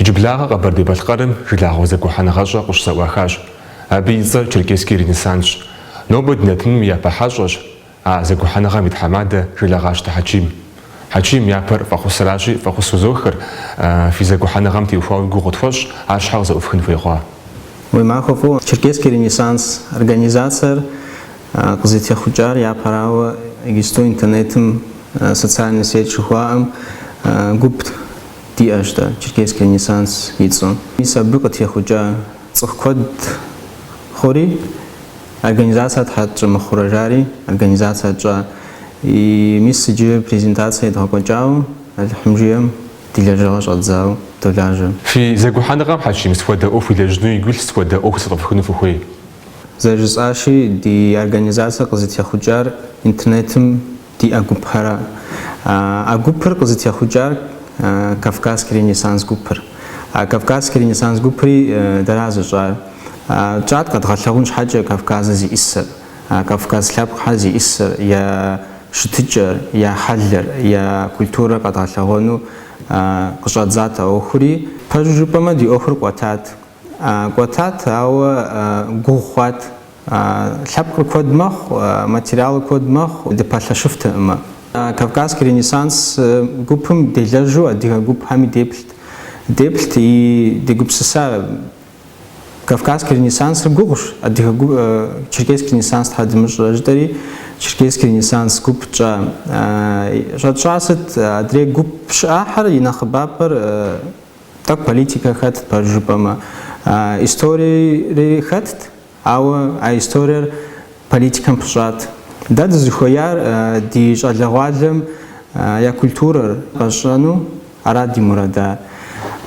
Иджыблагъэ Къэбэрдей-Балъкъэрым жылагъуэ зэгухьэныгъэщӏэ къыщызэӏуахащ. Абы и цӏэр Черкесский Ренессансщ. Нобэ ди нэтыным и япэ хьэщӏэщ а зэгухьэныгъэм и тхьэмадэ Жылэгъащтэ Хьэчим. Хьэчим япэр фӏэхъусращи, фӏэхъус узохыр, фи зэгухьэныгъэм теухуауэ и гугъу къытхуэщӏ ар щхьэ къызэӏуфхын хуей хъуа? Уи махуэ фӏыуэ, Черкесский Ренессанс организацэр къызытехъукӏар япэрауэ, иджысту интернетым социальный сеть жыхуаӏэм гуп диӏэщ дэ Черкесский Ренессанс и цӏэу. Мис абы къытехъукӏа цӏыху куэд хъури, организация тхьэ тщӏы мыхъурэ жари, организацэ тщӏа. И мис иджы презентация едгъэкӏуэкӏауэ, Алыхьым жиӏэм ди лэжьыгъэ щӏэдзауэ долажьэ. Фи зэгухьэныгъэм Хьэчим сыхуэдэ ӏуэху илэжьыну игу илъ, сыхуэдэ ӏуэху зэфӏэфхыну фыхуей? Зэрыжысӏащи, ди организация къызытехъукӏар интернетым Диӏэ гупхэр. А гупыр къызытехъукӏар Кавказский ренессанс гупыр. А Кавказский ренессанс гупри дэра зыщӏар. Тщӏат къэдгъэлъэгъун щхьэкӏэ Кавказыр зиӏысыр, Кавказ лъэпкъхэр зиӏысыр, я щытыкӏэр, я хьэлыр, я культурэр къэдгъэлъэгъуэну къыщӏэдзат а ӏуэхури. Пэжу жыпӏэмэ, ди ӏуэхур кӏуэтат. Кӏуэтат, ауэ гугъу хъуат. Лъэпкъыр куэд мэхъу, материалыр куэд мэхъу, дыпэлъэщыфтэкъымэ. Кавказский ренессанс гупым делэжьу адыгэ гупхэми деплът. Деплът и дегупсыса Кавказский ренессансыр гугъущ, адыгэ гуп, Черкесский ренессанс тхьэ дымыщӏрэ жытӏэри, Черкесский ренессанс гуп тщӏа. Щӏэтщӏар сыт, адрей гуп щыӏахьэр и нэхъыбапӏэр, Тӏэкӏу политикэ хэтт, пэж жыпӏэмэ. Историери хэтт, ауэ а историер политикэм пыщӏат. Дэ дызыхуеяр ди щӏалэгъуалэм я культурэр къащӏэну арат ди мурадар.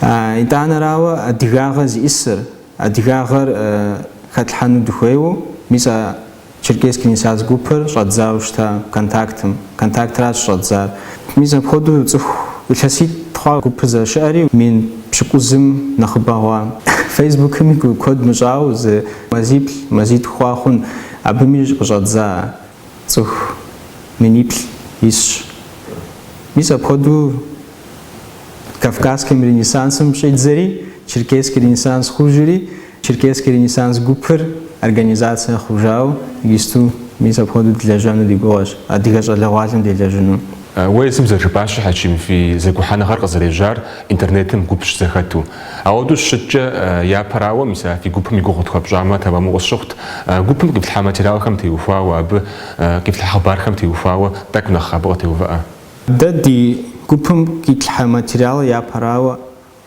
Итӏанэрауэ, адыгагъэ зиӏысыр, адыгагъэр хэтлъхьэну дыхуейуэ, мис а Черкесский Ренессанс гупыр щӏэдзауэ щыта контактым. Контактращ щӏэдзар. Мис апхуэдэу цӏыху илъэситӏ хъуа гупыр зэрыщыӏэри, мин пщыкӏузым нэхъыбэ хъуа. Фейсбукми гу куэд мыщӏауэ зы мазиплӏ, мазитху хъуа хъун. Абыми къыщӏэдза цӏыху миниплӏ исщ. Мис апхуэдэу Кавказским Ренессансым щӏидзэри, Черкесский Ренессанс хъужри, Черкесский Ренессанс гупыр организация хъужауэ иджысту мис апхуэдэу дылэжьэну ди гугъэщ, Адыгэ щӏалэгъуалэм делэжьыну. Уэ езым зэрыжыпӏащи, Хьэчим, фи зэгухьэныгъэр къызэрежьар интернетым гуп щызэхэту. Ауэдэу щыщыткӏэ, япэрауэ, мис а фи гупым и гугъу тхуэпщӏамэ, тэмэму къысщыхъут. Гупым къифлъхьа материалхэм теухуауэ, абы къифлъхьа хъыбархэм теухуауэ тӏэкӏу нэхъ абы къытеувыӏэ. Дэ ди гупым къитлъхьэ материалы япэрауэ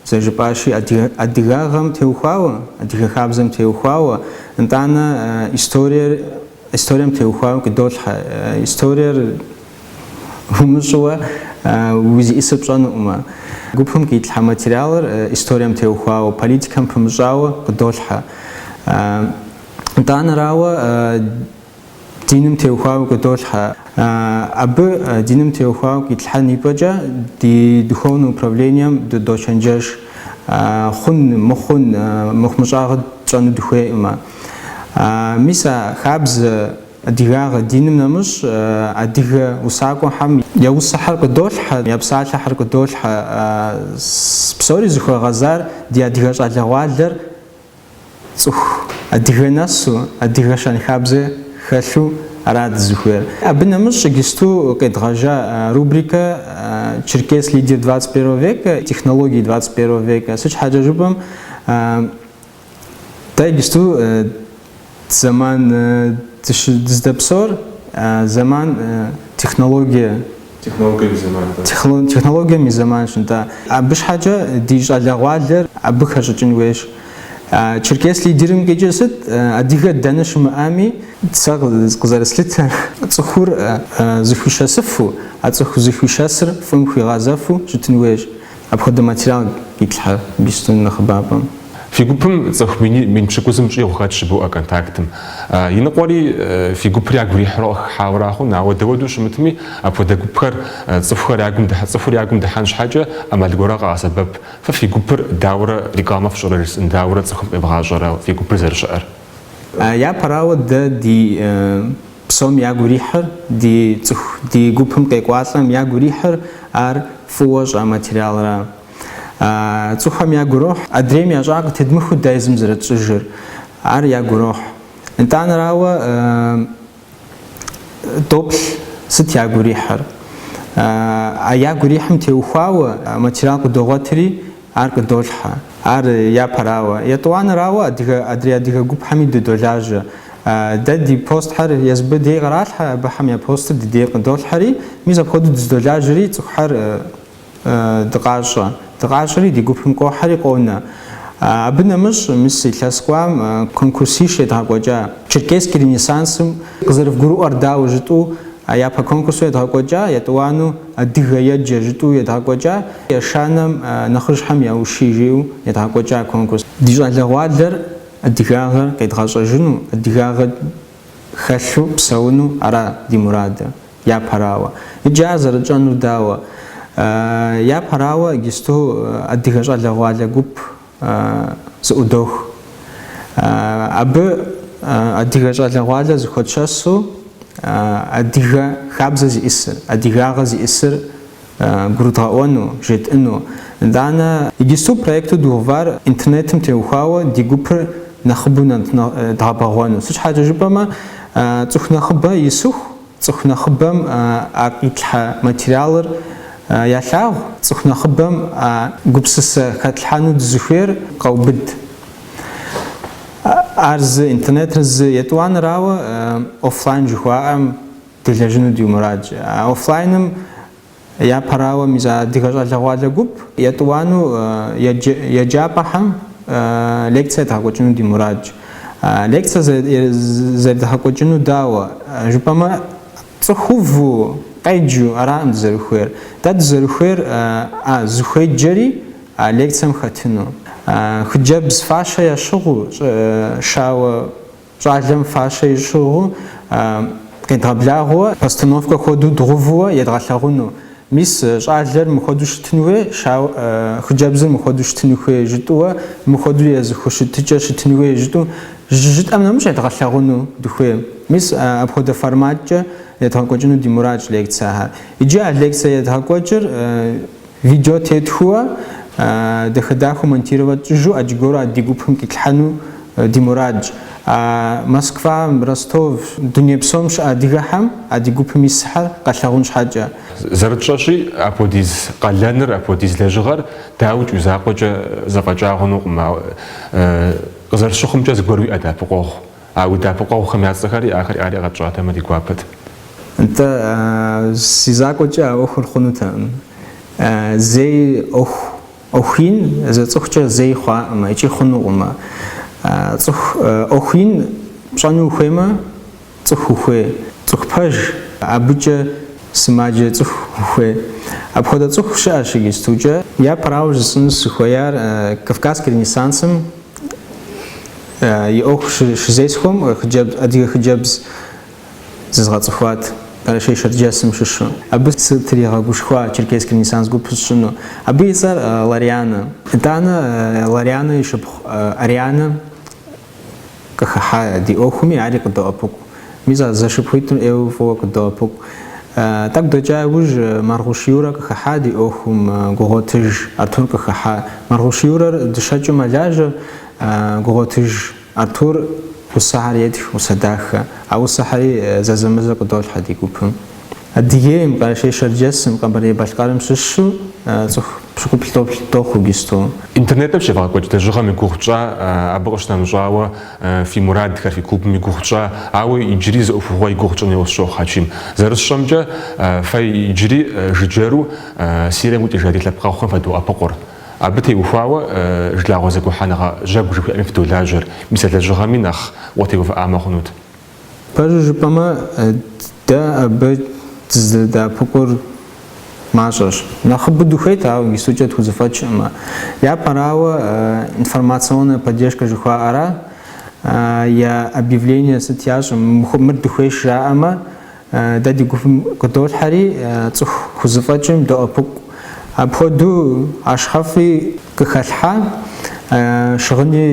зэжыпӏащи, адыгагъэм теухуауэ, адыгэ хабзэм теухуауэ, нтӏанэ историер, историем теухуауэ къыдолъхьэ. Историер умыщӏыуэ узиӏысыр пщӏэнуӏымэ. Гупым къитлъхьэ материалыр историем теухуауэ, политикэм пымыщӏауэ къыдолъхьэ. Нтӏанэрауэ, Диным теухуауэ къыдолъхьэ. Абы, диным теухуауэ къитлъхьэн ипӏэкӏэ, ди духовнэ управлением дыдочэнджэш. Хъун, мыхъун, мыхъумыщӏагъэ тщӏэну дыхуейӏымэ. Мис а хабзэ, адыгагъэ, диным нэмыщӏ, адыгэ усакӏуэхьэм я усыхьэр къыдолъхьэ, я псалъэхьэр къыдолъхьэ. Псори зыхуэгъэзар ди адыгэ щӏалэгъуалэр. Цӏыху адыгэ нэсу, адыгэ щэнхабзэ хэлъу ара дызыхуейр. Абы нэмыщӏ игисту къедгъэжа рубрикэ Черкес лидер двадцать первого века, технологии двадцать первого века. Сыт щхьэкӏэ жыпӏэм, дэ игисту Зэман дыздэпсор, зэман технологие. Технологием и зэманщ, нтӏэ. Абы щхьэкӏэ ди щӏалэгъуалэр абы хэщӏыкӏын хуейщ. Черкес лидерым къикӏыр сыт? Адыгэ дэнэ щымыӏэми, сэ къызэрыслъытэр, цӏыхур зыхуишэсыфу, а цӏыху зыхуишэсыр фӏым хуигъэзэфу щытын хуейщ. Апхуэдэ материал итлъхьэ Бистон нэхъыбапӏэм. Фи гупым цӏыху мин пщыкӏузым щӏигъу хэт жыбоӏэ контактым. Иныкъуэри фи гупыр ягу ирихьурэ къыхыхьауэра хъун, ауэ дауэду щымытми, апхуэдэ гупхэр цӏыхухэр ягум дыхьэ, цӏыхур ягум дыхьэн щхьэкӏэ ӏэмал гуэрэ къагъэсэбэп. Фэ фи гупыр дауэрэ рекламэ фщӏырэ жысӏэн, дауэрэ цӏыхум къевгъащӏэрэ фи гупыр зэрыщыӏэр? Япэрауэ дэ ди Псом ягу ирихьыр ди цӏыху, ди гупым къекӏуалӏэм ягу ирихьыр ар фӏыуэ щӏа материалра. А цӏыхухэм ягу ирохь, адрейм ящӏа къытедмыхыу дэ езым зэрытщӏыжыр, ар ягу ирохь. Нтӏанэрауэ, доплъ сыт ягу ирихьыр? А ягу ирихьым теухуауэ материал къыдогъуэтри, Ар къыдолъхьэ. Ар япэрауэ, етӏуанэрауэ адрей адыгэ гупхэми дыдолажьэ. Дэ ди постхьэр езы абы дей къыралъхьэ, абыхэм я постыр ди дей къыдолъхьэри, мис апхуэдэу дыздолажьэри цӏыхухьэр дыкъащӏэ. Дыкъащӏэри ди гупым къохьэри къонэ. Абы нэмыщӏ мис илъэс кӏуам конкурсищ едгъэкӏуэкӏа. Черкесский ренессансым къызэрывгурыӏуэр дауэ жытӏэу япэ конкурсу едгъэкӏуэкӏа, етӏуану. Адыгэ еджэ жытӏу едгъэкӏуэкӏа, ешанэм нэхъыжьхэм я ущие жиӏэу едгъэкӏуэкӏа конкурс. Ди щӏалэгъуалэр адыгагъэр къедгъэщӏэжыну, адыгагъэ хэлъу псэуну ара ди мурадыр? Япэрауэ. Иджы ар зэрытщӏэнур дауэ? Япэрауэ, иджысту адыгэ щӏалэгъуалэ гуп зыӏудох. Абы адыгэ щӏалэгъуалэ зыхуэтшэсу адыгэ хабзэ зиӏысыр, адыгагъэ зиӏысыр гурыдгъэӏуэну, жетӏыну. Итӏанэ иджысту проекту дгъэувар интернетым теухуауэ ди гупыр нэхъыбэу дгъэбэгъуэну. Сыт щхьэкӏэ жыпӏэмэ, цӏыху нэхъыбэ исыху. Цӏыху нэхъыбэм а къитлъхьэ материалыр ялъагъу, цӏыху нэхъыбэм а гупсысэ хэтлъхьэну дызыхуейр къэубыд. Ар зы интернетыр зы етӏуанэрауэ, офлайн жыхуаӏэм делэжьыну ди мурадщ. А офлайным. Япэрауэ, мис а адыгэ щӏалэгъуалэ гуп етӏуанэу еджапӏэхэм лекцэ едгъэкӏуэкӏыну ди мурадщ. Лекцэ зэрыдгъэкӏуэкӏыну дауэ жыпӏэмэ, цӏыху уву къеджу араӏым дызэрыхуейр. Дэ дызэрыхуейр а зыхуеджэри а лекцэм хэтыну. Хыджэбз фащэ ящыгъыу, щӏы, щауэ Щӏалэм фащэ ищыгъыу къедгъэблагъэуэ, постановкэ хуэдэу дгъэувууэ едгъэлъагъуну. Мис, щӏалэр мыхуэдэу щытын хуей, щауэ, хыджэбзыр мыхуэдэу щытыну хуей жытӏуэ, мыхуэдэу я зыхущытыкӏэ щытын хуей жытӏу, жы, жытӏэм нэмыщӏ едгъэлъагъуну дыхуей. Мис, апхуэдэ форматкӏэ едгъэкӏуэкӏыну ди мурадщ лекцэхэр. Иджы а лекцэ едгъэкӏуэкӏыр Видео тетхыуэ, дахэ-дахэу монтировать тщӏыжу Аджыгору а ди гупым къитлъхьэну ди мурадщ. А Москва, Ростов, дуней псом щыӏэ адыгэхэм а ди гупым исхэр къэлъагъун щхьэкӏэ. Зэрытщӏэщи, апхуэдиз къалэныр, апхуэдиз лэжьыгъэр дауикӏ уи закъуэкӏэ зэфӏэкӏа хъунукъым. Ауэ къызэрысщыхъумкӏэ зыгуэр уиӏэ дэӏэпыкъуэгъу А уи дэӏэпыкъуэгъухэм я цӏэхэри ахэр ари къэтщӏатэмэ ди гуапэт. Нтӏэ, си закъуэкӏэ а ӏуэхур хъунутэкъым. Зэи ӏуэху, ӏуэху ин зы цӏыхукӏэ зэи хъуакъымэ икӏи хъунукъымэ. Цӏыху ӏуэху ин пщӏэну ухуеймэ, цӏыху ухуей. Цӏыху пэж, абыкӏэ сымаджэ цӏыху ухуей. Апхуэдэ цӏыху щыӏэщ иджыстукӏэ. Япэрауэ жысӏэну сыхуеяр, Кавказский ренессансым И ӏуэху щызесхьэм хыджэбз, адыгэ хыджэбз зызгъэцӏыхуат, Къэрэшей-Шэрджэсым щыщу. Абы сытригъэгушхуа Черкесский ренессанс гуп сщӏыну. Абы и цӏэр Ларианэ. Итӏанэ Ларианэ и шыпхъу Арианэ къыхыхьа ди ӏуэхуми ари къыддоӏэпыкъу. Мис а зэшыпхъуитӏым ӏейуэ фӏыуэ къыддоӏэпыкъу. Тӏэкӏу дэкӏа иужь, Маргъуш Юрэ къыхыхьа ди ӏуэхум Гугъуэтыж Артур къыхыхьа. Маргъуш Юрэр дыщэкӏыу мэлажьэ, Гугъуэтыж Артур усэхьэр етх, усэ дахэ. А усэхьэри зэзэмызэ къыдолъхьэ ди гупым. Адыгейм, Къэрэшей-Шэрджэсым, Къэбэрдей-Балъкъэрым щыщу цӏыху пщыкӏуплӏ дохъу иджыпсту. Интернетым щевгъэкӏуэкӏ лэжьыгъэм и гугъу тщӏа, абы къыщынэмыщӏауэ фи мурадхэр, фи клубым и гугъу тщӏа, ауэ иджыри зы ӏуэхугъуэ и гугъу тщӏын хуейуэ сщохъу Хьэчим. Зэрысщӏэмкӏэ, фэ иджыри жыджэру Сирием къикӏыжа ди лъэпкъэгъухэм фадоӏэпыкъур. Абы теухуауэ Жылагъуэ зэгухьэныгъэ Жьэгу жыхуиӏэми фыдолажьэр, мис а лэжьыгъэми нэхъ утеувыӏамэ хъунут. Пэжу жыпӏэмэ, дэ абы дызэдэӏэпыкъур мащӏэщ. Нэхъыбэу дыхуейт, ауэ иджыпстукӏэ тхузэфӏэкӏкъымэ. Япэрауэ, информационная поддержка жыхуаӏэра, я объявление сыт ящӏым, мыр дыхуейщ жаӏэмэ, Дэ ди гупым къыдолъхьэри, цӏыху хузэфӏэкӏым доӏэпыкъу. Апхуэдэу ахъшэфӏи къыхалъхьа, щыгъыни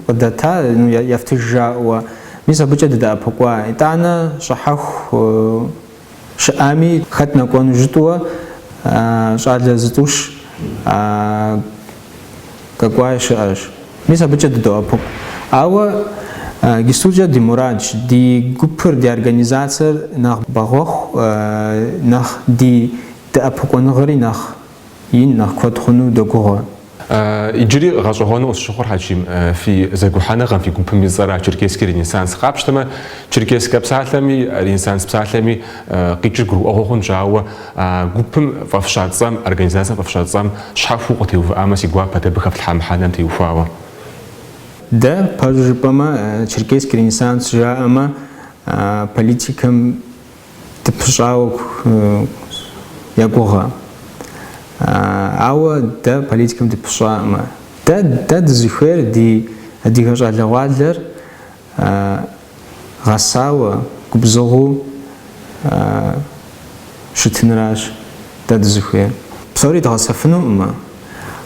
къыдата, ну, ефтыж жаӏэуэ. Мис абыкӏэ дыдэӏэпыкъуа. Итӏанэ щӏыхьэху щыӏами, хэт нэкӏуэну жытӏэуэ, щӏалэ зытӏущ. Къэкӏуаи щыӏэщ. Мис абыкӏэ дыдоӏэпыкъу. Ауэ иджыпстукӏэ ди мурадщ, ди гупыр, ди организацэр нэхъ бэгъуэху, нэхъ ди дэӏэпыкъуэныгъэри нэхъ ин, нэхъ куэд хъуну догугъуэ. Иджыри гъэщӏэгъуэну къысщыхъур, Хьэчим, фи зэгухьэныгъэм, фи гупым и цӏэра Черкесский ренессанс къапщтэмэ, черкесскэ псалъэми, ренессанс псалъэми, Къикӏыр гурыӏуэгъуэ хъунщ, ауэ а гупым фӏэфща цӏэм, организацэм фӏэфща цӏэм щхьэхуэу укъытеувыӏамэ си гуапэт абы хэфлъхьа мыхьэнэм теухуауэ. Дэ, пэжу жыпӏэмэ, Черкесский ренессанс жаӏэмэ, политикэм дыпыщӏауэ я гугъэ. Ауэ дэ политикэм дыпыщӏакъымэ. Дэ, дэ дызыхуейр ди адыгэ щӏалэгъуалэр, А гъэсауэ губзыгъэу щытыныращ дэ дызыхуейр. Псори дгъэсэфынукъым,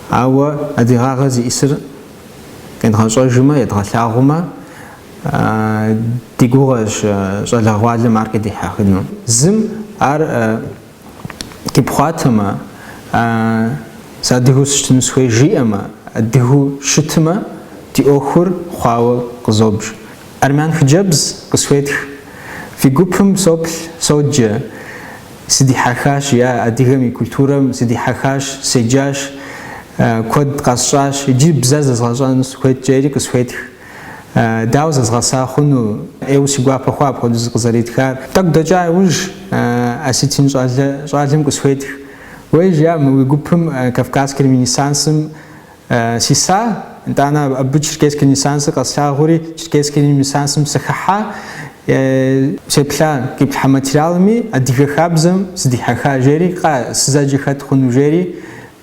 ауэ адыгагъэ зищӏысыр къедгъэщӏэжмэ, едгъэлъагъумэ, ди гугъэщ щӏалэгъуалэм ар къыдихьэхыну. Зым ар къипхъуатэмэ, а сэ адыгэу сыщытыну сыхуей жиӏэмэ, адыгэу щытымэ, ди ӏуэхур хъуауэ къызобж. Армян хъыджэбз къысхуетх. Фи гупым соплъ, соджэ. Сыдихьэхащ, я адыгэм и культурэм сыдихьэхащ, седжащ, куэд къэсщӏащ, иджы бзэ зэзгъэщӏэну сыхуейт жери къысхуетх. Дауэ зэзгъэса хъуну? ӏейуэ си гуапэ хъуа апхуэдэу зыкъызэритхар. Тӏэкӏу дэкӏа иужь, осетин щӏалэ, щӏалэм къысхуетх. Уей, жиӏа, мы уи гупым Кавказский Ренессансым сиса, итӏанэ абы Черкесский Ренессансыр къэслъагъури, Черкесский Ренессансым сыхыхьа, сеплъа, къиплъхьэ материалми адыгэ хабзэм сыдихьэха, жери, кхъыӏэ, сызэджэ хэт хъуну, жери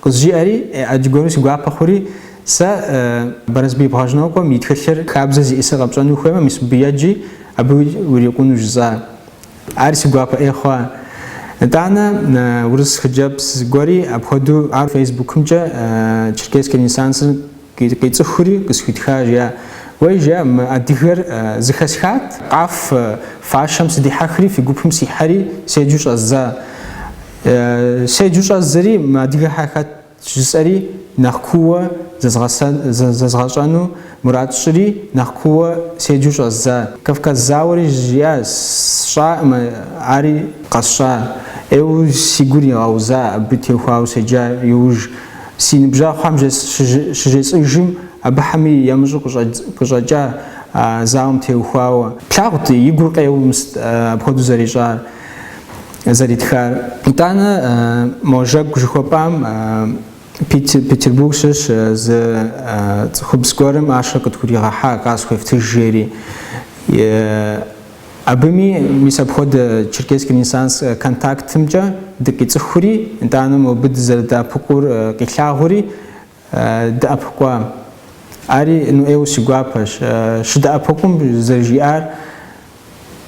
къызжиӏэри, ӏэджи гуэру си гуапэ хъури, Сэ Бэрэсбий Бгъэжьнокъуэм и тхылъыр хабзэ зиӏысыр къэпщӏэну ухуеймэ, мис мыбы еджи, абы урикъуну жысӏа. Ари си гуапэ ӏей хъуа. Итӏанэ, урыс хъыджэбз гуэри апхуэдэу ар фейсбукымкӏэ Черкесский ренессансыр къицӏыхури къысхуитха, жиӏа. Уей, жиӏэ, мы адыгэр зыхэсхат, къафэ, фащэм сыдихьэхри, фи гупым сихьэри, седжу щӏэздза. Седжу щӏэздзэри мы адыгэхьэр хэт? Жысӏэри нэхъ кууэ зэзгъэщӏэну мурад сщӏыри, нэхъ кууэ седжу щӏэздза. Кавказ зауэри жиӏа, сщӏакъым, ари къэсщӏа. ӏейуэ си гур игъэуза абы теухуауэ седжа иужь. Си ныбжьэгъухэм щыжесӏыжым, абыхэми емыщӏу къыщӏэкӏа а зауэм теухуауэ. Плъагъут и гур къеуэу, мис апхуэдэу зэрищӏар. зэритхар. Итӏанэ мо жэгу жыхуэпӏам Петербург щыщ зы цӏыхубз гуэрым ахъшэр къытхуригъэхьа, къасхуефтыж жери. Абыми, мис апхуэдэ Черкесский ренессанс контактымкӏэ дыкъицӏыхури, итӏанэ мобы дызэрыдэӏэпыкъур къилъагъури, дэӏэпыкъуа. Ари ну ӏейуэ си гуапэщ. Щыдэӏэпыкъум зэрыжиӏар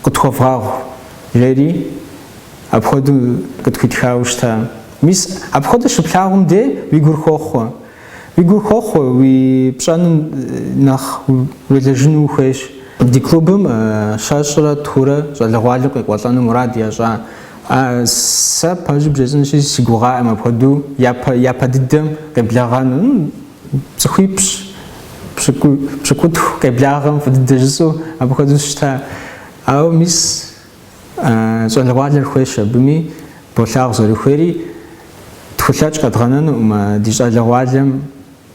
къытхуэвгъагъу, жери апхуэдэу къытхуитхауэ щыта. Мис, апхуэдэ щыплъагъум де уи гур хохъуэ. Уи гур хохъуэ, уи пщӏэным нэхъ уелэжьыну ухуейщ. Ди клубым щэщӏрэ тхурэ щӏалэгъуалэу къекӏуэлӏэну мурад ящӏа. А, сэ пэжу бжесӏынщи, си гугъаӏэм апхуэдэу япэ, япэ дыдэм къеблэгъэну. Ну, цӏыхуипщӏ, пщыкӏу, пщыкӏутху къеблагъэм фӏы дыдэ жысӏэу апхуэдэу сыщыта. Ауэ мис а, щӏалэгъуалэр хуейщ абыми, болъагъу зэрыхуейри, тхулъэкӏ къэдгъэнэнукъым а, ди щӏалэгъуалэм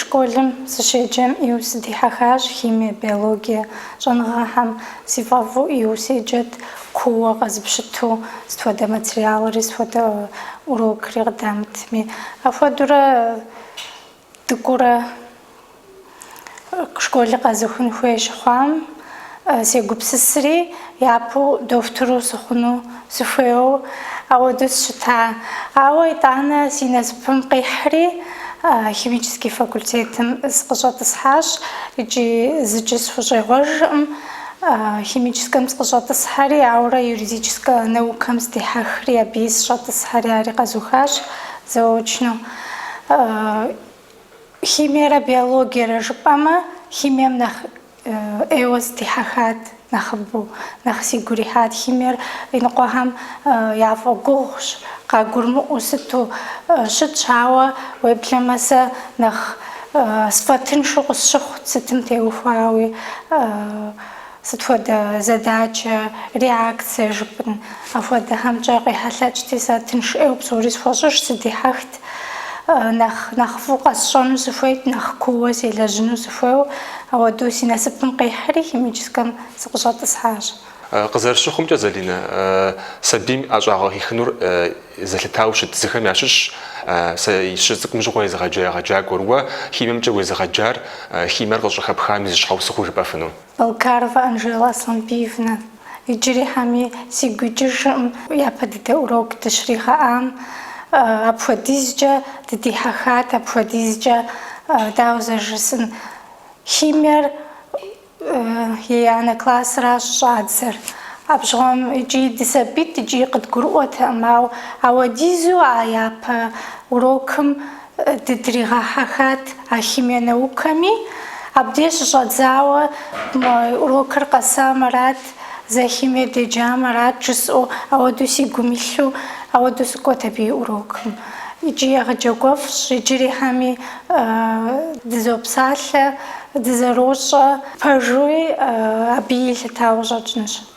Школым сыщеджэм ӏейуэ сыдихьэхащ химие, биологие щӏэныгъэхэм. Си фӏэфӏу ӏейуэ седжэт, кууэ къэзыпщыту, сыт хуэдэ материалри, сыт хуэдэ урокри къыдамытми. Апхуэдэурэ дыкӏуэурэ школри къэзухын хуей щыхъуам, сегупсысри, япэу дохутыру сыхъуну сыхуейуэ ауэдэу сщыта. Ауэ итӏанэ си насыпым къихьри, химический факультетым сыкъыщӏэтӏысхьащ икӏи зыкӏи сыхущӏегъуэжыркъым. Химическэм сыкъыщӏэтӏысхьэри, аурэ юридическэ наукэм сдихьэхри, абыи сыщӏэтӏысхьэри ари къэзухащ заочно. Химиерэ биологиерэ жыпӏэмэ, химием нэхъ ӏейуэ сыдихьэхат нэхъыбэу. Нэхъ сигу ирихьат химиер иныкъуэхэм яфӏэгугъущ, къагурымыӏуэу сыту щытщ, ауэ уеблэмэ сэ нэхъ сфӏэтыншу къысщыхъут сытым теухуауи, сыт хуэдэ задачэ, реакцие жыпӏэн, апхуэдэхэмкӏэ къехьэлъэкӏти, сэ тыншыӏейуэ псори схуэщӏыж, сыдихьэхт. нэхъ нэхъ фӏыу къэсщӏэну сыхуейт, нэхъ кууэ селэжьыну сыхуейуэ. Ауэдэу си насыпым къихьри, химическэм сыкъыщӏэтӏысхьащ. Къызэрысщыхъумкӏэ, Залинэ, сабийм ӏэщӏагъэ хихынур зэлъытауэ щыт зыхэм ящыщщ сэ щыцӏыкӏум щыгъуэ езыгъэджа егъэджакӏуэр. Уэ химиемкӏэ уезыгъэджар, химиер къыщӏыхэпхам и зы щхьэусыгъуэу жыпӏэфыну? Балкарова Анжела Аслъанбиевна. Иджырихьэми сигу икӏыжкъым япэ дыдэ урок дыщригъэӏам. Апхуэдизкӏэ дыдихьэхат, апхуэдизкӏэ, дауэ зэрыжысӏэн, химиер еянэ классыращ щӏадзэр. Абжьгъуэм икӏи дысабийт икӏи къыдгурыӏуэтэкъым, ауэ ауэдизу а япэ урокым Дыдригъэхьэхат а химие наукэми. Абдеж щыщӏэдзауэ урокыр къэсам арат, зэ химие деджам арат жысӏэу, ауэдэу си гум илъу, ауэдэу сыкӏуэт абы и урокым. Икӏи егъэджакӏуэфӏщ, иджырихьэми дызопсалъэ, дызэрощӏэ. Пэжуи абы елъытауэ щӏэкӏынщ.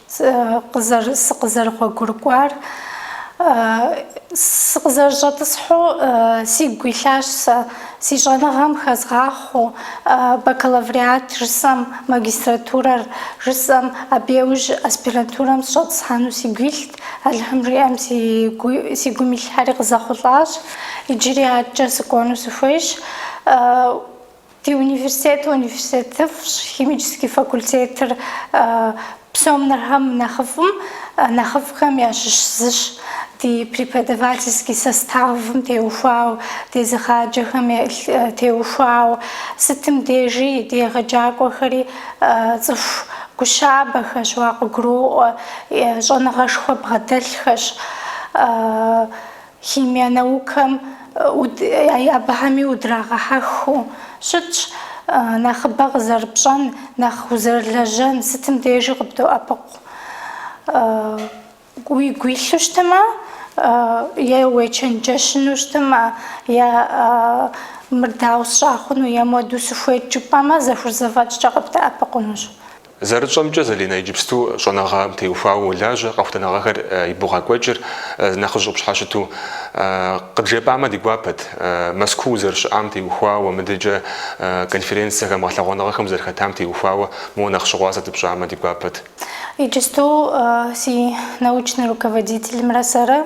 Сыкъызэрыгъуэгурыкӏуар, сыкъызэрыщӏэтӏысхьу сигу илъащ сэ, си щӏэныгъэм хэзгъахъуэу, бакалавриат жысӏэм, магистратурэр жысӏэм, абы яужь аспирантурэм сыщӏэтӏысхьэну сигу илът, Алыхьым жиӏэм си гум илъхэри къызэхъулӏащ, иджыри адэкӏэ сыкӏуэну сыхуейщ. Ди университетыр университетыфӏщ, химический факультетыр псом нэрхэм нэхъыфӏым, нэхъыфӏхэм ящыщ зыщ. Ди преподавательский составым теухуауэ, дезыгъаджэхэм теухуауэ, сытым дежи ди егъэджакӏуэхэри цӏыху гущабэхэщ, уакъыгуроӏуэ, щӏэныгъэшхуэ бгъэдэлъхэщ. Химие наукэм абыхэми удрагъэхьэхыу щытщ, нэхъыбэ къызэрыпщӏэн, нэхъ узэрылэжьэн сытым дежи къыбдоӏэпыкъу. Уигу илъу щытмэ, е уечэнджэщыну щытмэ, е мыр дауэ сщӏа хъуну, е муэду сыхуейт жыпӏэмэ, зэхурзэфӏэкӏкӏэ къыбдэӏэпыкъунущ. Зэрытщӏэмкӏэ, Залинэ, иджыпсту щӏэныгъэм теухуауэ уолажьэ, къэхутэныгъэхэр ибогъэкӏуэкӏыр нэхъыжь къыпщхьэщыту. Къыджепӏамэ ди гуапэт, Мэзкуу зэрыщыӏам теухуауэ, мыдэкӏэ конференцэхэм, гъэлъэгъуэныгъэхэм зэрыхэтам теухуауэ, моуэ нэхъ щыгъуазэ дыпщӏамэ ди гуапэт. Иджыпсту си научный руководителымрэ сэрэ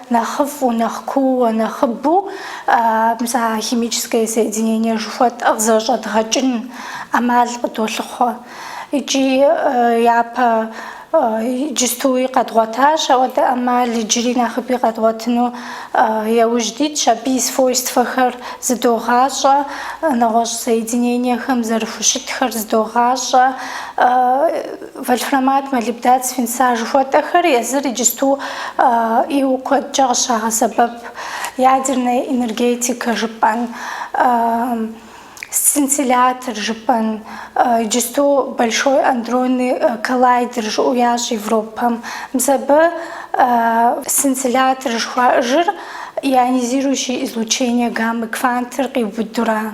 нэхъыфӏу, нэхъ куууэ, нэхъыбэу мис а химическое соединение жыхуэтӏэр къызэрыщӏэдгъэкӏын ӏэмал къыдолъыхъуэ. Икӏи япэ иджыстуи къэдгъуэтащ ауэдэ ӏэмал, иджыри нэхъыби къэдгъуэтыну яужь дитщ, абы и свойствэхэр зыдогъащӏэ, нэгъуэщӏ соединениехэм зэрыхущытхэр зыдогъащӏэ. Вольфрамат, молибдат свинца жыхуэтӏэхэр езыр иджысту ӏейуэ куэдкӏэ къыщагъэсэбэп ядерная энергетикэ жыпӏэн, сцинтиллятор жыпӏэн, иджысту большой андронный коллайдер жыӏэу ящӏ Европэм. Мис абы сцинтиллятор жыхуаӏэжыр ионизирующий излучение гаммы квантыр къиубыдура?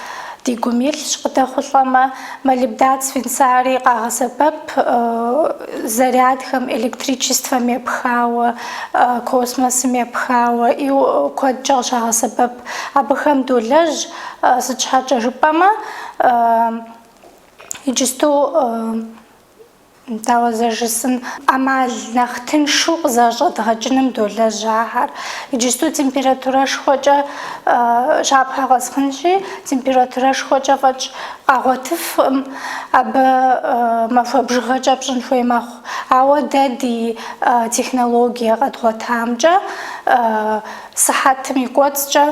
Ди гум илъщ, къыдэхъулӏэмэ, молибдат свинцари къагъэсэбэп зарядхэм, электричествэм епхауэ, космосым епхауэ, ӏейуэ куэдкӏэ къыщагъэсэбэп. Абыхэм долэжь, сыт щхьэкӏэ жыпӏэмэ, иджысту Дауэ зэжысӏэн, ӏэмал нэхъ тыншу къызэрыщӏэдгъэкӏыным долэжь ахэр. Иджысту температурэшхуэкӏэ щапхъэ къэсхьынщи, температурэшхуэкӏэ фӏэкӏ къагъуэтыфкъым, абы махуэ бжыгъэкӏэ пщӏын хуей мэхъу. Ауэ дэ ди технологие къэдгъуэтамкӏэ, сыхьэтым и кӏуэцӏкӏэ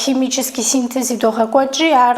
химический синтез идогъэкӏуэкӏри, ар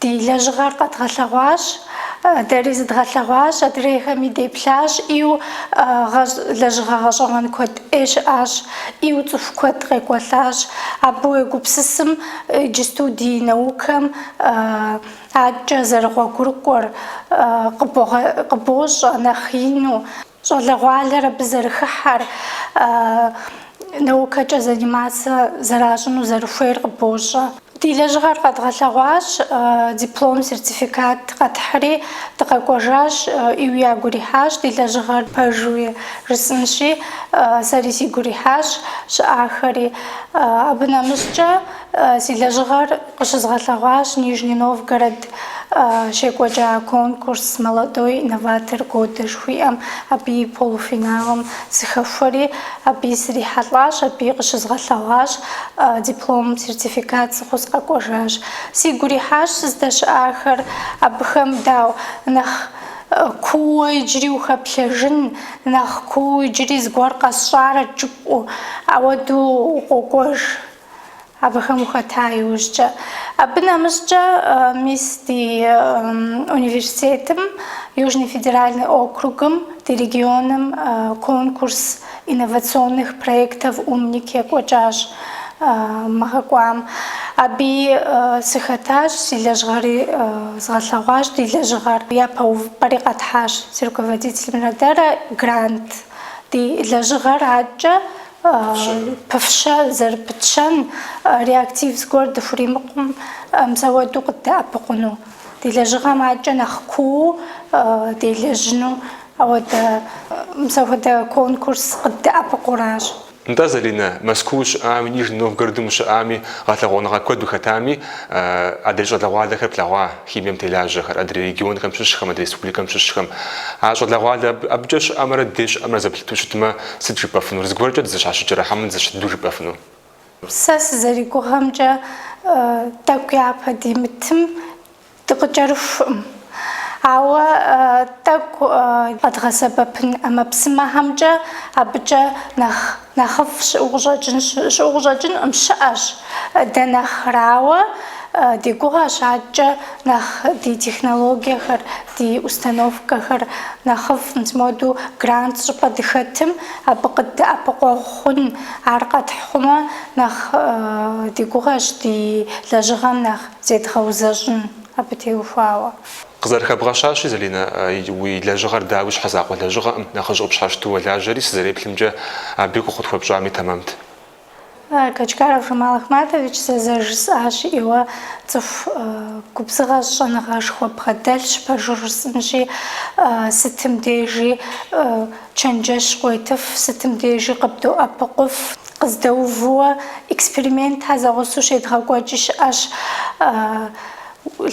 Ди лэжьыгъэр къэдгъэлъэгъуащ, дэри зыдгъэлъэгъуащ, адрейхэми деплъащ, ӏейу гъэщӏ лэжьыгъэ гъэщӏэгъуэн куэд ӏей щыӏащ, ӏейу цӏыху куэд къекӏуэлӏащ. Абы уегупсысым, иджысту ди наукэм адэкӏэ зэрыгъуэгурыкӏуэр къыбощӏэ нэхъ ину. Щӏалэгъуалэр абы зэрыхыхьэр, наукэкӏэ заниматься зэращӏыну зэрыхуейр къыбощӏэ. Ди лэжьыгъэр къэдгъэлъэгъуащ, диплом, сертификат къэтхьри, дыкъэкӏуэжащ, ӏейуи ягу ирихьащ ди лэжьыгъэр пэжуи, жысӏэнщи, сэри сигу ирихьащ, щыӏахэри. Абы нэмыщӏкӏэ. Си лэжьыгъэр къыщызгъэлъэгъуащ Нижний Новгород щекӏуэкӏа конкурс «Молодой инноватор года» жыхуиӏэм, абы и полуфиналым сыхэхуэри, абыи срихьэлӏащ, абыи къыщызгъэлъэгъуащ, диплом, сертификат сӏыгъыу сыкъэкӏуэжащ. Сигу ирихьащ сыздэщыӏахэр, абыхэм дау нэхъ куууэ иджыри ухэплъэжын, нэхъ куууэ иджыри зыгуэр къэсщӏарэт жыпӏу, ауэду укъокӏуэж. Абыхэм ухэта иужькӏэ. Абы нэмыщӏкӏэ, мис ди университетым, Южный федеральный округым, ди регионым конкурс инновационных проектов Умник екӏуэкӏащ мы гъэ кӏуам. Абыи сыхэтащ, си лэжьыгъэри згъэлъэгъуащ, ди лэжьыгъэр япэ увыпӏэри къэтхьащ, си руководителымрэ дэрэ грант. Ди лэжьыгъэр аткӏэ Пыфщэ зэрыпытщэн реактив зыгуэр дыхуримыкъум, мсэуэду къыддэӏэпыкъуну, ди лэжьыгъэм адэкӏэ нэхъ кууу делэжьыну ауэдэ мсэхуэдэ конкурс къыддэӏэпыкъуращ. Нтӏэ, Залинэ, Мэзкуу ущыӏами, Нижний Новгородым ущыӏами, гъэлъэгъуэныгъэ куэд ухэтами, адрей щӏалэгъуалэхэр плъэгъуа, химием телажьэхэр, адрей регионхэм щыщхэм, адрей республикэм щыщхэм. А щӏалэгъуалэ абыкӏэ щыӏэмрэ дей щыӏэмрэ зэплъыту щытмэ, Сыт жыпӏэфынур? Зыгуэркӏэ дызэщхьэщыкӏрэ хьэмэ дызэщхь дыдэу жыпӏэфыну? Сэ сызэригугъэмкӏэ, тӏэкӏу япэ димытым дыкъыкӏэрыхукъым. Ауэ тӏэкӏу къэдгъэсэбэпын ӏэмэпсымэхэмкӏэ абыкӏэ нэхъ нэхъыфӏ щыӏу къыщӏэкӏынкъым, щыӏэщ дэ нэхърэ. Ауэ ди гугъэщ адэкӏэ нэхъ ди технологиехэр Ди установкэхэр нэхъыфӏ мис моду грант щӏыпӏэ дыхэтым, абы къыддэӏэпыкъуэгъу хъун. Ар къэтхь хъумэ, нэхъ ди гугъэщ ди лэжьыгъэм нэхъ зедгъэузэщӏын абы теухуауэ. Къызэрыхэбгъэщащи, Залинэ, уи лэжьыгъэр дауи щхьэзакъуэ лэжьыгъэкъым, нэхъыжь къыпщхьэщыту уолажьэри, сызэреплъымкӏэ, абы и гугъу къытхуэпщӏами тэмэмт. Качкаров Жамал Ахматович зэ зэрыжысӏащи, цӏыху губзыгъэ щӏэныгъэшхуэ бгъэдэлъщ, пэжу жысӏынщи, сытым дежи чэнджэщ къуетыф, сытым дежи къыбдоӏэпыкъуф, къыздэувууэ экспериментхэр зэгъусэу щедгъэкӏуэкӏи щыӏэщ.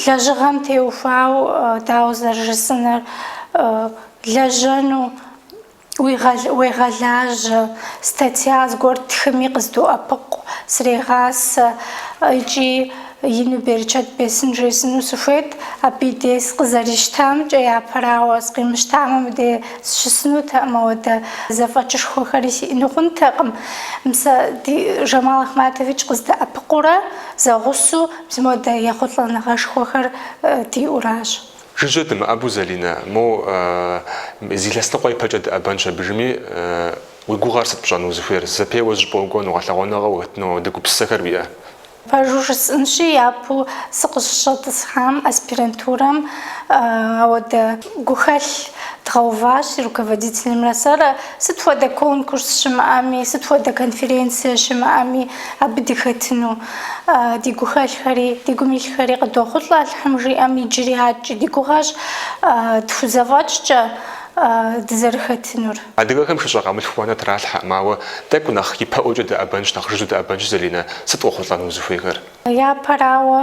Лэжьыгъэм теухуауэ, дауэ зэрыжысӏэнур, лэжьэну. Уегъэлажьэ, статья зыгуэр ттхыми къыздоӏэпыкъу, срегъасэ икӏи ину берычэт бесын жесӏэну сыхуейт. Абы и дей сыкъызэрищтамкӏэ, япэрауэ, сыкъимыщтамэ, мыдей сщысынутэкъым, ауэдэ зэфӏэкӏышхуэхэри сиӏэну хъунтэкъым. Мис сэ Жамал Ахматович къыздэӏэпыкъуурэ зэгъусэу мис модэ ехъулӏэныгъэшхуэхэр диӏуращ. Жыжьэ дымыӏэбу Залинэ, мо зы илъэс ныкъуэ ипэкӏэ дыӏэбэнщ абыжми, уи гугъэр сыт пщӏэну узыхуейр, зэпеуэ зыщӏыпӏэ укӏуэну, гъэлъэгъуэныгъэ ухэтыну ауэдэ гупсысэхэр уиӏэ? Пэжу жысӏэнщи, япэу сыкъыщыщӏэтӏысхьам аспирантурэм ауэдэ гухэлъ дгъэуващ си руководителымрэ сэрэ, сыт хуэдэ конкурс щымыӏэми, сыт хуэдэ конференцие щымыӏэми абы дыхэтыну. Ди гухэлъхэри, ди гум илъхэри къыдохъулӏэ Алыхьым жиӏэм иджыри аткӏи ди гугъэщ, тхузэфӏэкӏкӏэ дызэрыхэтынур. Адыгэхэм шыщӏэ къамылъху уанэ тралъхьэкъым, ауэ тӏэкӏу нэхъ ипэӏуэкӏэ дыӏэбэнщ, нэхъ жыжьэу дыӏэбэнщ, Залинэ, сыт къохъулӏэну узыхуейхэр? Япэрауэ.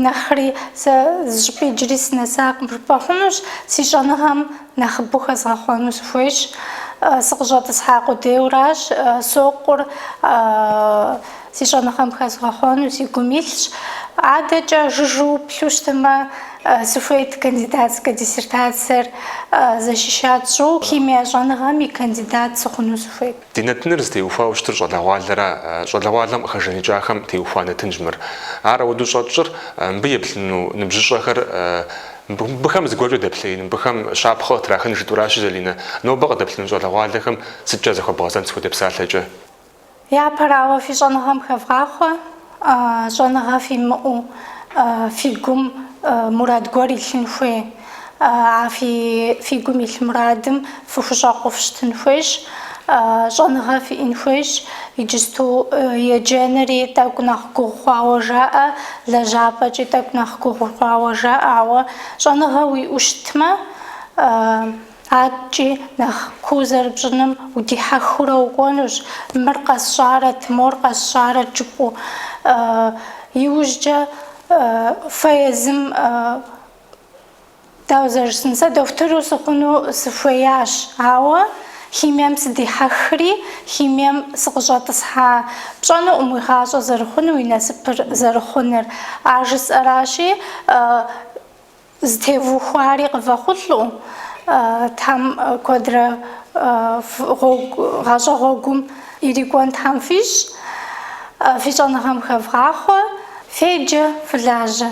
Нэхъри сэ зыщӏыпӏи иджыри сынэсакъым жыпӏэ хъунущ, си щӏэныгъэм нэхъыбэу хэзгъэхъуэну сыхуейщ. Сыкъыщӏэтӏысхьа къудейуэращ, сокъур си щӏэныгъэм хэзгъэхъуэну си гум илъщ. Адэкӏэ жыжьэу уплъу щытмэ, сыхуейт кандидатскэ диссертациер защищать сщӏыуэ, химие щӏэныгъэм и кандидат сыхъуну сыхуейт. Ди нэтыныр зытеухуауэ щытыр щӏалэгъуалэра, щӏалэгъуалэм къыхэжэныкӏахэм теухуа нэтынщ мыр. Ар ауэдэу щӏэтщӏыр мыбы еплъыну ныбжьыщӏэхэр, мыбыхэм зыгуэркӏэ дэплъеин, мыбыхэм щапхъэ къытрахын жытӏуращи, Залинэ, нобэ къыдэплъыну щӏалэгъуалэхэм сыткӏэ захуэбгъэзэнт сыт хуэдэ псалъэкӏэ? Япэрауэ, фи щӏэныгъэм хэвгъахъуэ. Щӏэныгъэ фимыӏэу фи гум мурад гуэр илъын хуей. А фи гум илъ мурадым фыхущӏэкъуу фыщытын хуейщ, щӏэныгъэ фиӏэн хуейщ. Иджысту еджэнри тӏэкӏу нэхъ гугъу хъуауэ жаӏэ, лэжьапӏэкӏи тӏэкӏу нэхъ гугъу хъуауэ жаӏэ. Ауэ щӏэныгъэ уиӏэу щытмэ, Адэкӏи, нэхъ куу зэрыпщӏыным удихьэхыурэ укӏуэнущ, мыр къэсщӏарэт, мор къэсщӏарэт жыпӏэу. Иужькӏэ фэ езым, дауэ зэрыжысӏэн, сэ дохутыру сыхъуну сыхуеящ, ауэ химием сыдихьэхри, химием сыкъыщӏэтӏысхьа пщӏэнукъым уи гъащӏэ зэрыхъунур, уи насыпыр зэрыхъунур. А жысӏэращи, Зытевухуари къывэхъулӏэу, Тхьэм куэдрэ гъуэгу, гъащӏэ гъуэгум ирикӏуэн Тхьэм фищӏ, фи щӏэныгъэм хэвгъахъуэ, феджэ, фылажьэ.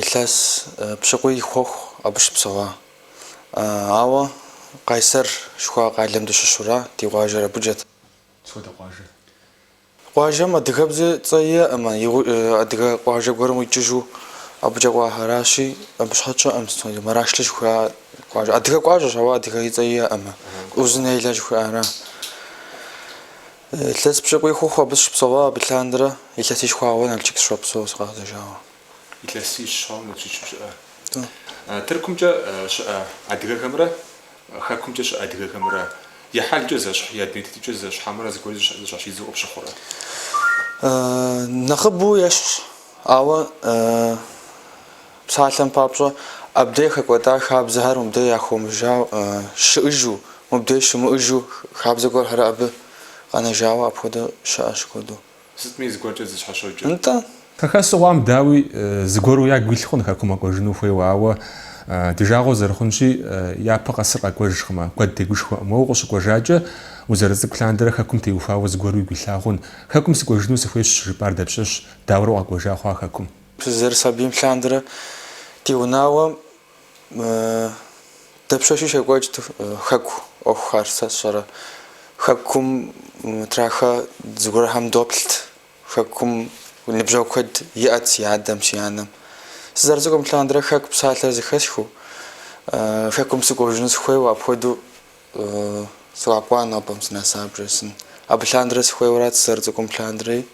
Илъэс пщыкӏуий хъуху абы щыпсэуа. Ауэ Къайсэр жыхуаӏэ къалэм дыщыщура, ди къуажэр абыкӏэт. Сыт хуэдэ къуажэ? Къуажэм адыгэбзэ цӏэ иӏэӏымэ, адыгэ къуажэ гуэрым къикӏыжу абыкӏэ кӏуахэращи, абы щхьэкӏэ Мэрашли жыхуаӏэ къуажэр. Адыгэ къуажэщ, ауэ адыгэ и цӏэ иӏэӏымэ. Узуняйлэ жыхуаӏэра. Илъэс пщыкӏуий хъуху абы сыщыпсэуа, абы лъандэрэ, илъэсищ хъуауэ Налчык сыщопсэу сыкъагъэзэжауэ. Илъэсищ щӏауэ Налчык ущыӏэ. Тыркумкӏэ щыӏэ адыгэхэмрэ Хэкумкӏэ щыӏэ адыгэхэмрэ я хьэлкӏэ зэщхь, я дуней тетыкӏэ зэщхь хьэмэрэ зыгуэри зэщхьэщидзэу къыпщыхъурэ? Нэхъыбэу ещхьщ, ауэ. Псалъэм папщӏэ, абдей хэкӏуэда хабзэхэр мыбдей яхъумэжауэ щыӏыжу, мыбдей щымыӏыжу хабзэ гуэрхэр абы къэнэжауэ апхуэдэу щыӏэщ куэду. Сытми зыгуэркӏэ зэщхьэщокӏ. Нтӏэ. Хэхэсыгъуам, дауи, зыгуэру ягу илъ хъун хэкум къэкӏуэжыну хуейуэ, ауэ ди жагъуэ зэрыхъунщи, япэ къэсыр къэкӏуэжкъымэ, куэд тегушхуэкъым. Уэ укъыщыкӏуэжакӏэ, узэрыцӏыкӏу лъандэрэ хэкум теухуауэ зыгуэру уигу илъа хъун. Хэкум сыкӏуэжыну сыхуейщ щыжыпӏар дапщэщ, дауэрэ укъэкӏуэжа хъуа хэкум? Сызэрысабийм лъандэрэ ди унагъуэм дапщэщи щекӏуэкӏт хэку ӏуэхухэр, сэ сщӏэрэ. Хэкум траха зыгуэрхэм доплът. Хэкум ныбжьэгъу куэд иӏэт си адэм, си анэм. Сызэрыцӏыкӏум лъандэрэ хэку псалъэ зэхэсхыу, хэкум сыкӏуэжыну сыхуейуэ, апхуэдэу Сыкъэкӏуа нобэм сынэса, бжесӏэн. Абы лъандэрэ сыхуейуэрат сызэрыцӏыкӏум лъандэрэ.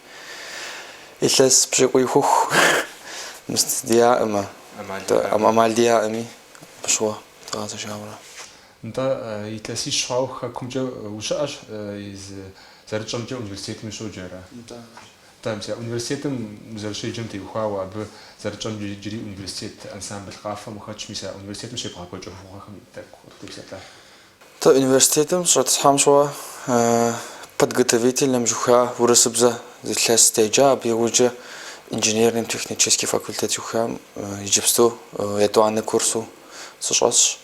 Илъэс пщыкӏуий хъуху мыст диӏаӏымэ. Амал диӏаӏыми, абы щыгъуэ дгъэзэжауэра. Нтӏэ, илъэсищ хъуауэ хэкумкӏэ ущыӏэщ, иджы зэрытщӏэмкӏэ университетым ущоджэра? Нтӏэ. Тӏэмкӏэ, университетым узэрыщеджэм теухуауэ абы зэрытщӏэмкӏэ иджыри университет ансамбль къафэм ухэтщ, мис а университетым щебгъэкӏуэкӏ ӏуэхугъуэхэм тӏэкӏу къыттепсэлъэ. Дэ университетым дыщӏэтӏысхьэм щыгъуэ подготовительным жыхуа урысыбзэ зы илъэс деджа, абы иужькӏэ инженерным технический факультет жыхуам иджыпсту етӏуанэ курсу сыщӏэсщ.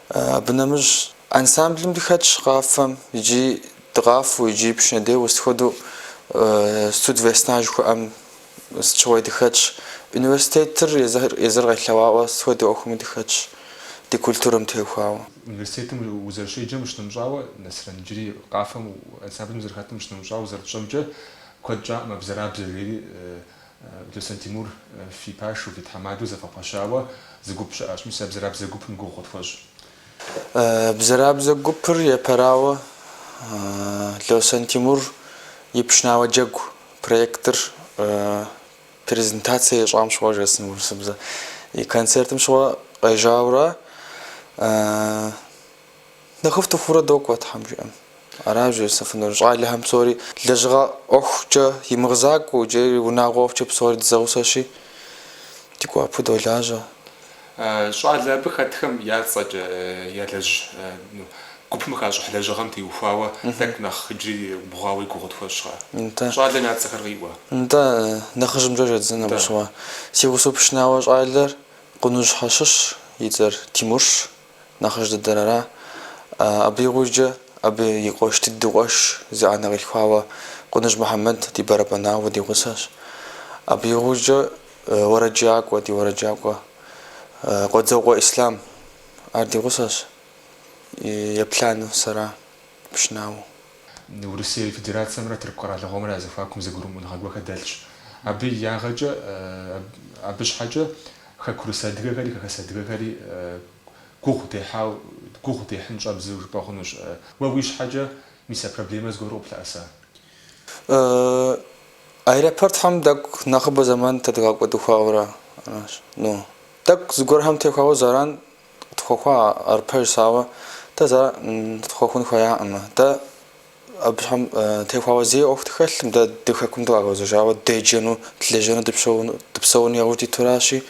Абы нэмыщӏ ансамблым дыхэтщ къафэм иджы Дыкъафэу иджы пшынэ деуэу сыт хуэдэу Студ Весна жыхуаӏэм сыт щыгъуи дыхэтщ. Университетыр езыр къелъэӏуауэ сыт хуэдэ ӏуэхуми дыхэтщ, ди культурэм теухуауэ. Университетым узэрыщеджэм ущынэмыщӏауэ, Нэсрэн иджыри къафэм ансамблым узэрыхэтым ущынэмыщӏауэ зэрытщӏэмкӏэ, куэд щӏакъым а Бзэрабзэ жери Лосэн Тимур фи пашэу, фи тхьэмадэу зэвгъэпэщауэ зы гуп щыӏэщ. Мис а Бзэрабзэ гупым гугъу къытхуэщӏ. Бзэрабзэ гупыр епэрауэ Лосэн Тимур и Пшынауэ джэгу проектыр презентацэ ищӏам щыгъуэ жэсын урысыбзэ и концертым щыгъуэ къежьауэ ара, нэхъыфӏ дыхъуурэ докӏуэ, тхьэм жиӏэм. Аращ жысӏэфынур щӏалэхэм псори лэжьыгъэ ӏуэхукӏэ и мызакъуэу иджыри унагъуэ ӏуэхукӏэ псори дызэгъусэщи, ди гуапэу долажьэ. Щӏалэ абы хэтхэм я цӏэкӏэ ялэжь гупым хащӏыхь лэжьыгъэм теухуауэ тӏэкӏу нэхъ иджыри бгъуауэ и гугъу тхуэщӏрэ? Нтӏэ. Щӏалэм я цӏэхэр къиӏуэ? Нтӏэ, нэхъыжьымкӏэ щӏэддзэн абы щыгъуэ. Си гъусэ пшынауэ щӏалэр Къуныжьхэ щыщ, и цӏэр Тимурщ. Нэхъыжь дыдэр ара. Абы игъужькӏэ, абы и къуэш дыдэу къуэш, зы анэ къилъхуауэ Къуныжь Мухьэмэд ди бэрэбэнауэ, ди гъусэщ. Абы игъужькӏэ, уэрэджакӏуэ, ди уэрэджакӏуэ Къуэдзокъуэ Ислъам, ар ди гъусэщ, еплӏанэу сэра. пшынауэ. Урысей Федерацэмрэ Тырку къэралыгъуэмрэ я зэхуакум зэгурымыӏуэныгъэ гуэрхэр дэлъщ. Абы и ягъэкӏэ, абы щхьэкӏэ хэкурыс адыгэхэри хэхэс адыгэхэри гугъу дехьауэ, гугъу дехьын щӏэбдзэу жыпӏэ хъунущ. Уэ уи щхьэкӏэ мис а проблемэр зыгуэру къыплъэӏэса? Аэропортхэм тӏэкӏу нэхъыбэ зэман тедгъэкӏуэда хъуауэ ара. Ну, тӏэкӏу зыгуэрхэм теухуауэ зэран Къытхуэхъуа ар пэжщ, ауэ дэ зэ къытхуэхъун хуеяӏым. Дэ абыхэм теухуауэ зэи ӏуэху дыхэлъым, дэ ди хэкум дыкъэгъэзэжауэ деджэну, дылэжьэну, дыпсэуну яужь дитуращи,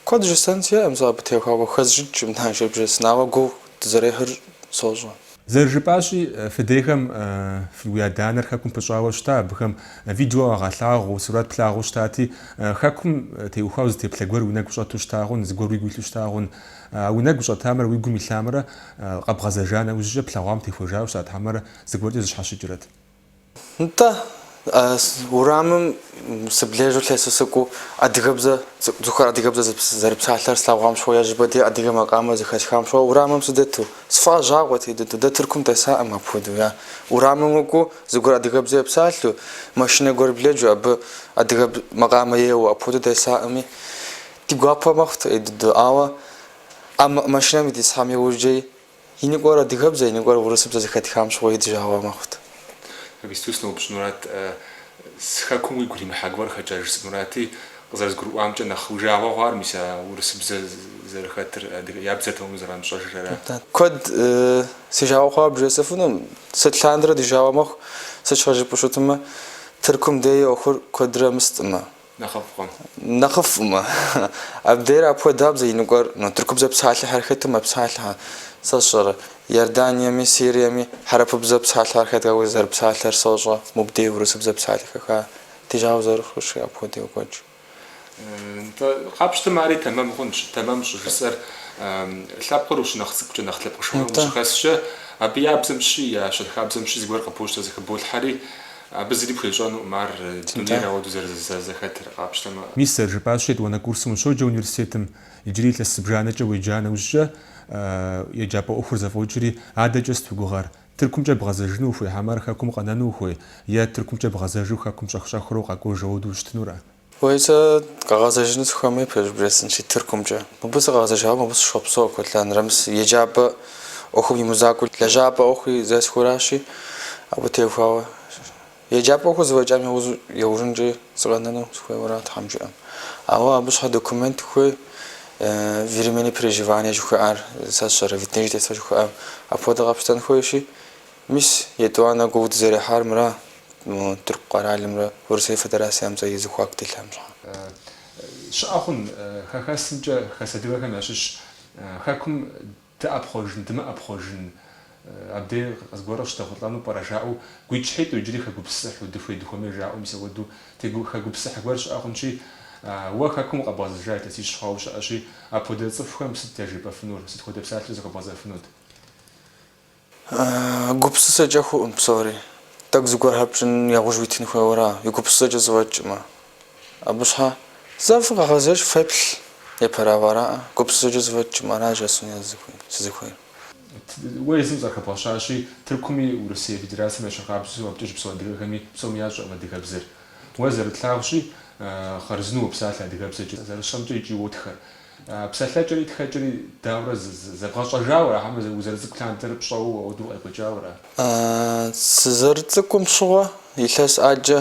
куэд жысӏэн сиӏэм сэ абы теухуауэ. Хэсщӏыкӏ, мынажэбжэ сынагъуэ гугъу дызэрехьыр сощӏэ. Зэрыжыпӏащи, фыдейхэм фи, уи адэ-анэр хэкум пыщӏауэ щыта, абыхэм видео къагъэлъагъуу, сурэт плъагъуу щытати, хэкум теухуауэ зы теплъэ гуэр уи нэгу щӏэту щыта хъун, зыгуэр уигу илъу щыта хъун. А уи нэгу щӏэтамрэ уи гум илъамрэ къэбгъэзэжа нэужькӏэ плъэгъуам техуэжауэ щытат хьэмэрэ зыгуэркӏэ зэщхьэщыкӏрэт. Нтӏэ, урамым сыблэжу лъэсу сыкӏуэу, адыгэбзэ, цӏыхухэр адыгэбзэ зэрыпсалъэр слъэгъуам щыгъуэ, ежьыбэдей адыгэ макъамэр зэхэсхам щыгъуэ урамым сыдэту, сфӏэщӏагъуэт иджы дэ. Дэ Тыркум десакъым апхуэдэу. Я урамым укӏуэу, зыгуэр адыгэбзэ епсалъэу, машинэ гуэр блэжу, абы адыгэ макъамэ еуэу, апхуэдэу десакъыми, ди гуапэ мэхъут, ӏей дыдэу. Ауэ а машинэм дитӏысхьам иужькӏэ И ныкӏуэр адыгэбзэ, и ныкӏуэр урысыбзэ зэхэтхам щыгъуи ди жагъуэ мэхъут. Иджыпсту сыноупщӏынурат, си хэкум уигу иримыхьа гуэрхэкӏэ, жысӏэнурати, къызэрызгурыӏуамкӏэ, нэхъ уи жагъуэ хъуар мис а урысыбзэ зэрыхэтыр, адыгэ, я бзэр тэмэму зэрамыщӏэжыр ара? Куэд си жагъуэ хъуауэ бжесӏэфынум, сыт лъандэрэ ди жагъуэ мэхъу, сыт щхьэ жыпӏэу щытмэ, Тыркум деи ӏуэхур куэдрэ мыстӏымэ. нэхъыфӏкъым. Нэхъыфӏмэ, абдейр апхуэдабзэ, иныкӏуэр тыркубзэ псалъэхэр хэту мэпсалъэхэр, сэ сщӏэрэ, Иорданиеми, Сириеми хьэрэпыбзэ псалъэхэр хэтауэ зэрыпсалъэр сощӏэ, мубдей урысыбзэ псалъэхэ хэтыжауэ зэрыхъущи апхуэдэу йокӏуэкӏ. Нтӏэ, къапщтэмэ ари тэмэм хъунщ, тэмэм щӏыжысӏэр лъэпкъыр ущынэхъ цӏыкӏукӏэ нэхъ лъэпкъышхуэхэм ущыхэскӏэ, абы я бзэм щи, я щэнхабзэм щи зыгуэр къыбощтэ зыхыболъхьэри, Абы зыри пхуещӏэнукъым ар дунейр ауэду зэрызэхэтыр, къапщтэмэ. Мис, сэр, жыпӏащ етӏуанэ курсым ущоджэ университетым, иджыри илъэс зыбжанэкӏэ уеджа нэужькӏэ, еджапӏэ ӏуэхур зэфӏокӏри, адэкӏэ сыт уи гугъэр? Тыркумкӏэ бгъэзэжыну ухуей, хьэмэрэ Хэкум къэнэну ухуей, е Тыркумкӏэ бгъэзэжу Хэкум щӏэх-щӏэхыурэ укъэкӏуэж ауэду ущытынурэ? Уей, сэ къэгъэзэжыну сыхуэмей, пэжыр бжесӏэнщи, Тыркумкӏэ. Мыбы сыкъэгъэзэжауэ мыбы сыщхъуэпсэу куэд лъандэрэ, мис еджапӏэ ӏуэхум и мызакъуэу лэжьапӏэ ӏуэхуи зесхуэращи, абы техуауэ еджапӏэ ӏуэхур зэфӏэкӏам яужь яужьынкӏи сыкъэнэну сыхуейуэра, Тхьэм жиӏэм. Ауэ абы щхьэ документ хуей, временное проживание жыхуиӏар, сэ сщӏэрэ, вид на жительство жыхуиӏар, апхуэдэ къэпщтэн хуейщи, мис, етӏуанэ гугъу дызэрехьар мыра? Тырку къэралымрэ Урысей Федерацэмрэ и зэхуаку дэлъам щхьэ. Щыӏэ хъун, хэхэсымкӏэ хэс адыгэхэм ящыщ Хэкум дыӏэпхъуэжын, дымыӏэпхъуэжын, абдей къы- зыгуэр къыщыдэхъулӏэну пӏэрэ жаӏэу гуитӏщхьитӏу иджыри хэгупсысыхьу, дыхуей дыхуэмей жаӏэу мис апхуэдэу тегу хэгупсысыхь гуэр щыӏэ хъунщи, уэ Хэкум укъэбгъэзэжа илъэсищ хъуауэ щыӏэщи, апхуэдэ цӏыхухэм сыт яжепӏэфынур, сыт хуэдэ псалъэу захуэбгъэзэфынут? Гупсысэкӏэ хъуӏым псори. Тӏэкӏу зыгуэр хэпщӏын яужь уитын хуейуэра, и гупсысэкӏэ зыфӏэкӏмэ? Абы щхьэ зэ фыкъэгъэзэж, феплъ, епэрауэ араӏэ, гупсысэкӏэ зэфӏэкӏмэ, аращ яжесӏэну сызыхуейр. Уэ езым къызэрыхэбгъэщащи, Тыркуми Урысей Федерацэм ещхьыркъабзэу абыкӏэ щыпсэу адыгэхэми псоми ящӏэкъым адыгэбзэр. Уэ зэрытлъагъущи, хъарзынэу уопсалъэ адыгэбзэкӏэ, зэрысщӏэмкӏэ икӏи уотхэ. Псэлъэкӏэри тхэкӏэри даурэ зэбгъэщӏэжауэ ара, хьэмэрэ узэрыцӏыкӏу лъандэрэ пщӏэуэ ауэдэу укъекӏуэкӏауэ ара? Сызэрыцӏыкӏум щыгъуэ илъэс ӏаджэ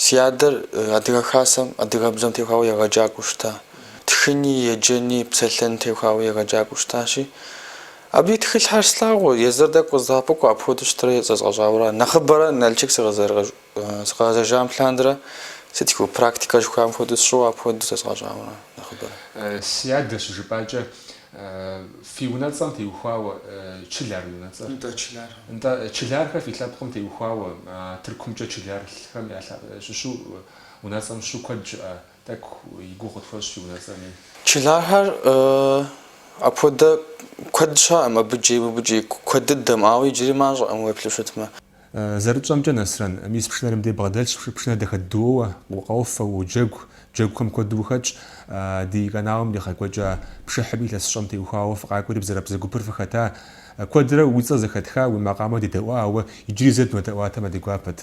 си адэр Адыгэ Хасэм адыгэбзэм техуауэ егъэджакӏуэу щыта. Тхыни, еджэни, псэлъэни техуауэ егъэджакӏуэу щытащи, абы и тхылъхэр слъагъуу, езыр тӏэкӏу къыздэӏэпыкъуу, апхуэдэу щытырэ зэзгъэщӏауэ ара. Нэхъыбэрэ Налшык сыкъызэрыгъэщӏ. Сыкъэгъэзэжам лъандэрэ, сыт жыхуэу, практикэ жыхуаӏэм хуэдэу сщӏыуэ апхуэдэу зэзгъэщӏауэ ара нэхъыбэрэ. Си адэ щыжыпӏакӏэ, фи унэцӏэм теухуауэ, Чылар уи унэцӏэр? Нтӏэ, Чылар. Нтӏэ, Чылархэр фи лъэпкъым теухуауэ, а Тыркумкӏэ Чылархэм я лъэ, щыщу унэцӏэм щыщу куэд щыӏэ, тӏэкӏу и гугъу къытхуэщӏ фи унэцӏэми. Чылархэр апхуэдэ куэд щыӏэӏым, абы джей, мыбы джей, куэд дыдэм, ауэ иджыри мащӏэӏым уеплъу щытмэ. Зэрытщӏэмкӏэ, Нэсрэн, мис пшынэр мыбдей бгъэдэлъщ, пшынэр дахэ дыдэу уоуэ, укъофэ, уоджэгу, джэгухэм куэду ухэтщ. Ди каналым иригъэкӏуэкӏа пшыхьми илъэсыщӏэм теухуауэ фыкъакӏуэри Бзэрабзэ гупыр фыхэта. Куэдрэ уи цӏэр зэхэтха, уи макъамэ дедэӏуа, ауэ иджыри зэ дынодэӏуатэмэ, ди гуапэт.